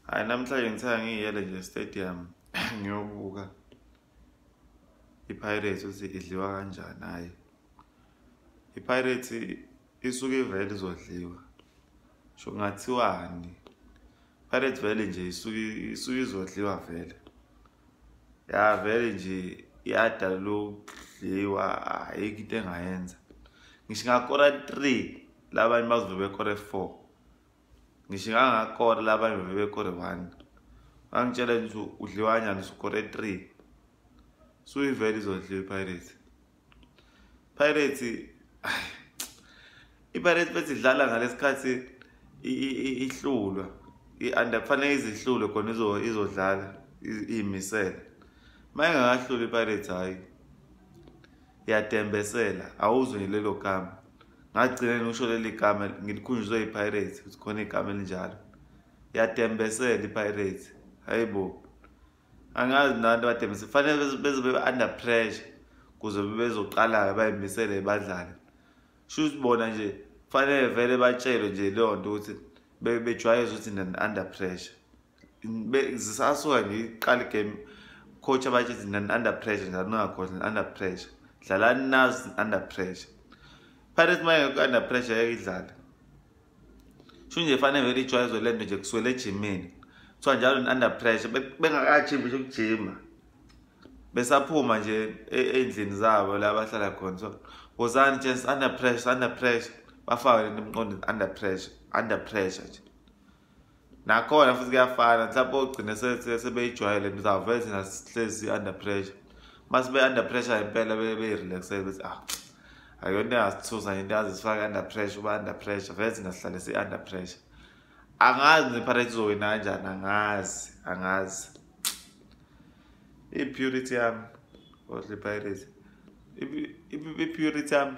hayi namhlanje ngithe angiyele nje stadium ngiyobuka ipirates ukuthi idliwa kanjani hhayi ipirates isuke ivele izodliwa sho ngathiwani pirates vele nje isuke isuke izodliwa vele ya vele nje yada lokudliwa ayikho into engayenza ngisho ngakora 3 labanye bazobe bekore 4 ngisho ngangakora laba bebekore one bangitshela nje ukuthi udliwa kanjani sukore three suyivele izodliwa ipirates pirates ipirates bethi idlala ngalesikhathi ihlulwa and kufanele izihlulwe khona izodlala iyimisele uma ingakahluli ipirates hhayi yadembesela awuzwe lelo gama ngagcina ngikusho leli gama ngilikhunjuzwe ipirates ukuthi khona igama elinjalo yadembesela ipirates hayi bo angazi nanto badembesele fanele beze bebe under pressure kuze bebezoqala-ke bayimisele badlale sho ukuthi bona nje fanele vele batshelwe nje leyo nto ukuthi bejwayeze ukuthi under pressure zisasuka nje iqala igame coach abathi under pressure njalo ningakhohlwa under pressure dlalani nazi under pressure pirates uma engekho under pressure yeke idlale sho nje fanele vele ijwayezwe le nto nje kuswele ejimini kuthiwa njalo ni-under pressure bengakajimi nje ukujima besaphuma nje e-, ey'ndlini zabo la bahlala khona so wozani chance under pressure under pressure bafake lento emqondweni under pressure under pressure nje nakhona futhi kuyafana mhlawumbe ogcine sebeyijwayele nto zawuvele thina sihlezi under pressure uma sibe-under pressure impela beyirelaxele bethi ah akuyona into engasithusa into yazisifake under pressure uba under pressure vele thina sihlale si-under pressure angazi neparate izowina kanjani angazi angazi i-purity yami ohle pirates i-purity yami